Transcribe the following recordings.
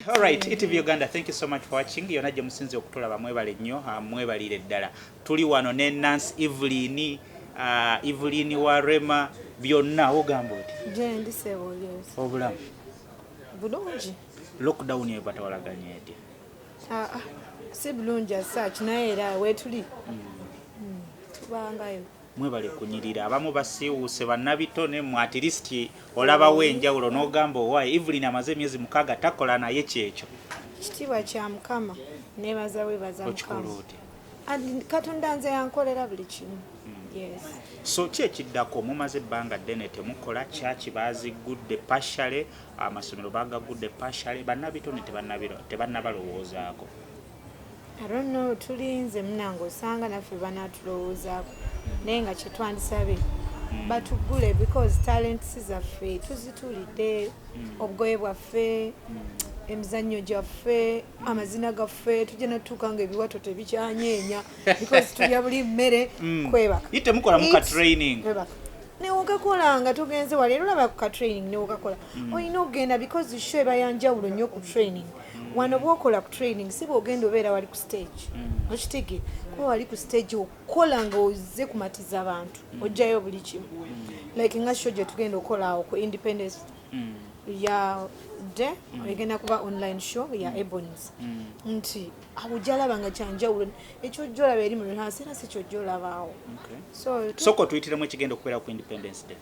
Alright, ETV Uganda, thank you so much for watching. Yona gye musinze okutulaba mwebale nnyo, ah, mwebalire ddala. Tuli wano ne Nancy Evelyn, ah, Evelyn wa Rema byonna ogamba oti. Je ndi sebo yes. Obulamu. Bulungi. Lockdown ye batawalaganya eti. Ah, ah. Si bulungi as such naye era wetuli. Mm. Mm. Tubangayo. Mwebale kunyirira abamu basiiwuuse bannabitone mwe at least olabawo enjawulo n'ogamba owaaye Evelyn amaze emyezi mukaaga takola naye kyekyo ekitiibwa kya mukama nebaza webaza okikola mukama otya And katonda nze yankolera buli kimu yes so ki ekiddako mumaze ebbanga ddene temukola kyaki baziggudde pashale amasomero bagagudde pashale bannabitone tebannabiro- tebannabalowoozaako I don't know tulinze munange osanga naffe banatulowoozaako naye nga kyetwandisabye mm. batugule because talents zaffe tuzitulidde mm. obugoye bwaffe mm. emizannyo gyaffe amazina gaffe tujja natuuka nga ebiwato tebikyanyeenya because tulya buli mmere mm. kwebakatemukola mu katraining newukakola nga tugenze wali era olaba ku katraining newukakola mm. olina okugenda because show ebayanjawulo nnyo ku training mm. wano bwokola ku training si bwogenda obeera wali ku stage mm. okitege kuba wali ku stage okukola nga oze kumatiza abantu mm. ojjayo buli kimu mm. like nga sho gyetugenda okukola awo ku independence ya de egenda kuba online show ya ebons nti awo jalaba nga kyanjawulo ekyo jolaba eri mu rehearse era si kyo jolabaawo soko tuyitiremu ekigenda okubeera ku independence day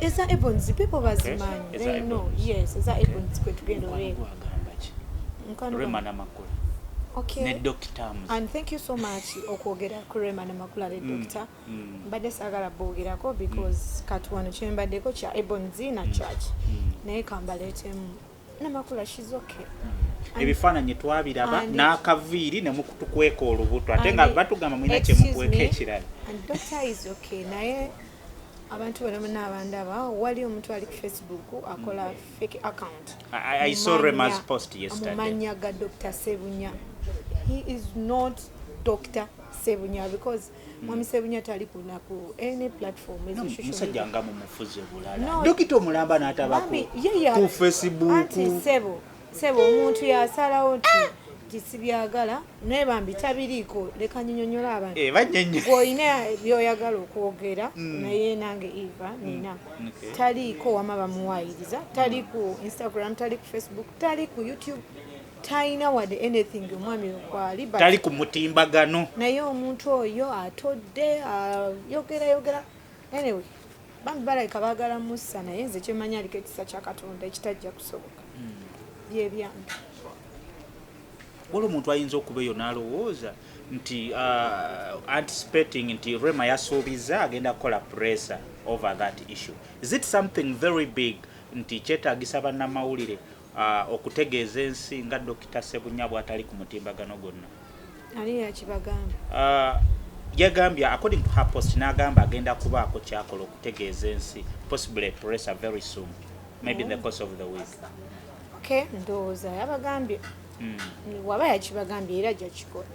eza ebons people bazimanyi eh, they know yes eza ebons kwe tugenda olwego rema namakula okay. ne doctor terms and thank you so much okwogera ku rema namakula ne mm, doctor mm. mbadde sagala boogerako because mm. kati wano kyembaddeko kya ebons na mm, church mm. naye kambaleetemu namakula she's okay ebifaananyi twabiraba n'akaviiri ne mukutukweka olubuto ate nga batugamba mulina kye mukweka ekirala naye abantu bona bona abandaba wali omuntu ali ku facebook akola mm. fake account mumanya ga dr sebunya he is not dr sebunya because Mwami Sebunya tali ku na ku any platform ezo no, shusho. Musajja nga mumufuze bulala. No. Dokita omulamba n'atabako. Mami, ye ya. Ku Facebook. Anti sebo. Sebo omuntu yasalawo nti. Ah! tisibyagala naye bambi tabiriiko leka nyinyonyola abantu eh, olina byoyagala okwogera mm. naye nange eva mm. nina taliiko wama bamuwayiriza tali ku instagram tali ku facebook tali ku youtube talina wade anything omwami wekwali tali ku mutimbagano naye omuntu oyo atodde ayogera yogera anyway bambi balabika bagala musa naye nze kyemanya aliko ekisa kya katonda ekitajja kusoboka hmm. byebyange wali omuntu ayinza okuba eyo nalowooza nti uh, anticipating nti rema yasuubiza agenda kukola pressure over that issue is it something very big nti kyetagisa bannamawulire okutegeeza ensi nga Dokita Ssebunya bw'atali ku mutimbagano gwonna. Ani yakibagamba? Uh, yagambye according to her post n'agamba agenda kubaako kyakola okutegeeza ensi possibly press very soon maybe in the course of the week. Okay, ndowooza yabagambye hmm. waba yakibagambye era ajja kikola.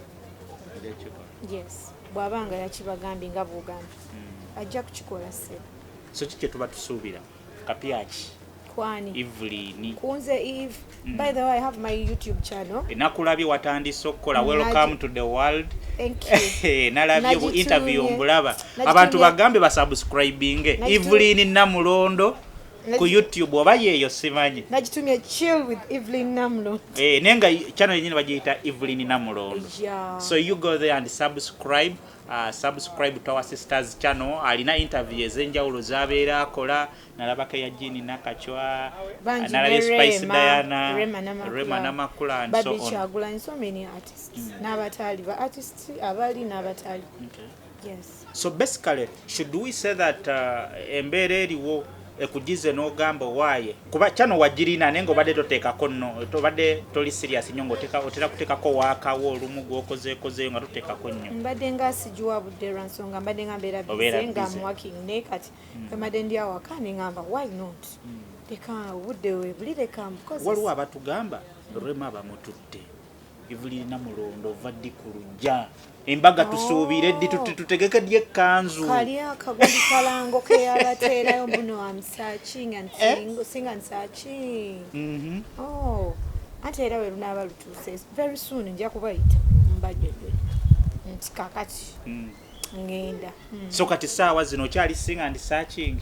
Yes, bw'aba nga yakibagambye nga bw'ogambye hmm. ajja kukikola sebo. So kiki kye tuba tusuubira? kapyaki kwani Evelyn kunze Eve mm. by the way I have my YouTube channel enakulabye watandise okukola welcome to the world thank you nalabye ku interview mbulaba abantu bagambe ba subscribing Evelyn Namulondo ku YouTube oba yeyo simanyi nagitumye chill with Evelyn Namulondo eh nenga channel yenyine bagiyita Evelyn Namulondo yeah. so you go there and subscribe Uh, subscribe to our sisters channel alina interview ezenjawulo zabeera akola nalabako eya jini nakacwa nalabye spice diana rema namakula and so on kyagulanyi so many artists mm. n'abataali ba artists abali n'abataali okay. yes so basically should we say that uh, embeera eriwo ekujize nogamba owaye kuba chano wajirina nenga obadde totekako no obadde toli serious nyo ngoteka otera kutekako wakawo olumu gwokozekozeyo nga totekako nyo mbadde nga sijuwa budde lwa nsonga mbadde nga mbeera bize nga am working ne kati mm. mbadde ndi awaka nengamba why not mm. leka obudde webuli leka waliwo abatugamba rema bamututte Evvu lirina mulondo ova ddi ku lujja embaga oh. tusuubire ddi tutegeke ddi ekkanzu kali akaguli kalango keyabateerayo muno am searching and eh? sing, eh? sing and searching mm -hmm. oh. ate era we lunaaba lutuuse very soon nja kubayita mbajjojjo nti kakati mm. ngenda mm. so kati saawa zino okyali sing and searching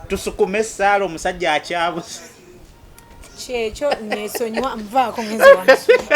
tusukume esaala omusajja akyabuze kyekyo nesonyiwa nvaako ngenzi wange